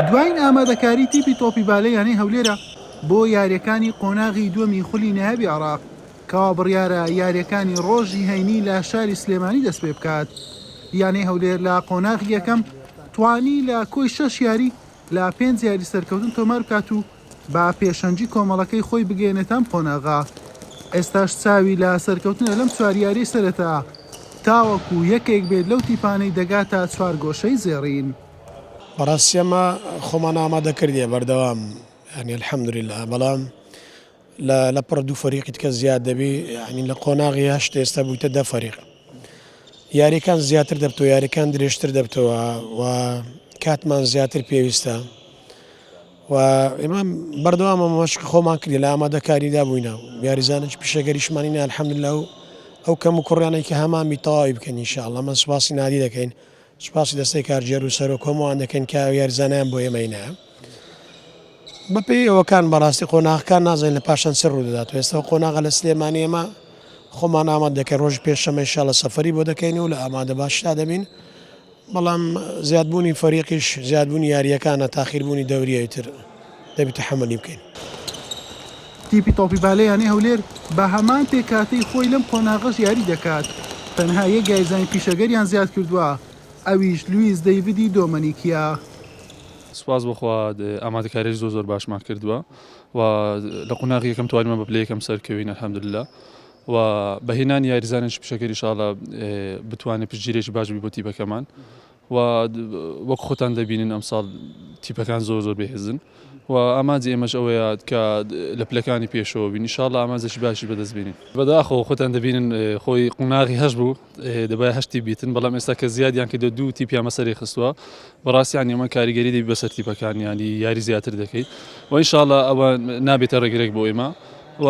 دوایین ئامادەکاری تیپی تۆپی بالە یانەی هەولێرە بۆ یارییەکانی قۆناغی دووەمی خولی نایابی عێراق کەوا بڕیارە یارییەکانی رۆژی هەینی لە شاری سلێمانی دەستپێبکات یانەی هەولێر لە قۆناغی یەکەم توانی لە کۆی شەش یاری لە پێنج یاری سەرکەوتن تۆماربکات و با پێشەنگی کۆمەڵەکەی خۆی بگەیەنێتە ئەم قۆناغە، ئێستاش چاوی لە سەرکەوتنە لەم چوار یارییەی سەرەتا، تاوەکو یەکێک بێت لەو تیپانەی دەگاتە چوارگۆشەی زێڕین. بەڕاستی ئێمە خۆمان ئامادە کردیە بەردەوام یانی الحمدللە بەڵام لە لە پڕ دوو فەریقی تکە زیاد دەبی یعنی لە قۆناغی هەشت ئێستا بوویتە دە فەریق یاریەکان زیاتر دەبتەوە یاریەکان درێژتر دەبتەوە و کاتمان زیاتر پێویستە و ئێمە بەردەوامە مەشقی خۆمان کردین لە ئامادەکاریدا بووینە و یاریزانێکی پیشەگەریشمان هینا الحمدللە و ئەو کەم و کوڕیانەی کە هەمان بی تەواوی بکەین ان شاء اللە من سوپاسی نادی دەکەین سوپاسی دەستەی کارگێر و سەرۆک هەمووان دەکەین کە یاریزانیان بۆ ئێمە هینایە بەپێی ئەوەکان بەڕاستی قۆناغەکان نازانین لە پاشان چ ڕوودەدات و ئێستا قۆناغە لە سلێمانی ئێمە خۆمان ئاماد دەکەین ڕۆژی پێنجشەممە ان شاء اللە سەفەری بۆ دەکەین و لە ئامادە باشدا دەبین بەڵام زیادبوونی فەریقیش زیادبوونی یارییەکانە تاخیربوونی دەوریی تر دەبی تەحەمولی بکەین. تیپی تۆپی بالە یانەی هەولێر بە هەمان پێکهاتەی خۆی لەم قۆناغەش یاری دەکات، تەنها یەک یاریزانی پیشەگەریان زیادکردووە ئەویش لویس دەیڤدی دۆمەنیکیە. سوپاس بۆ خوا ئامادەکاریی زۆر زۆر باشمان کردووە و لە قۆناغی یەکەم توانیمان بە پلەی یەکەم سەرکەوین الحمدللە و بە هێنانی یاریزانێکی پیشەکەری ئیشاڵا بتوانێت پشتگیرێکی باش بی بۆ تیپەکەمان و وەک خۆتان دەبینن ئەمساڵ تیپەکان زۆر زۆر بەهێزن و ئامانجی ئێمەش ئەوەیە کە لە پلەکانی پێشەوە بین ئیشاڵا ئامانجێکی باشی بەدەستبینین بەداخەوە خۆتان دەبینن خۆی قوناغی هەش بوو دەبایە هەشتی بیتن بەڵام ئێستا کە زیادیان کردوە دوو تیپیان بەسەری خستوە بەڕاستی یانی ئەمە کاریگەری دەبی بەسەر تیپەکان ینی یاری زیاتر دەکەیت و ئینشاالله ئەوە نابێتە ڕێگرێک بۆ ئێمە و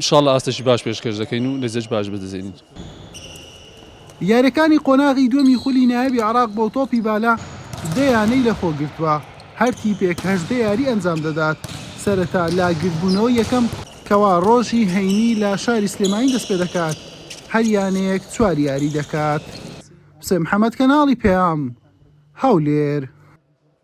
شاڵ ئاستەشی باش پێشکەش دەکەین و لەزەش باش بدەزێنین. یاریەکانی قۆناغی دووەمی خولی نایابی عێراق بۆ تۆپی بالە دە یانەی لەخۆگرتوە، هەر تیپێک هەژدە یاری ئەنجام دەدات سەرەتا لە گردبونەوەی یەکەم، کەوا ڕۆژی هەینی لە شاری سلێمانی دەستپێدەکات هەر یانەیەک چوار یاری دەکات. حوسێن محەمەد کەناڵی پەیام، هەولێر.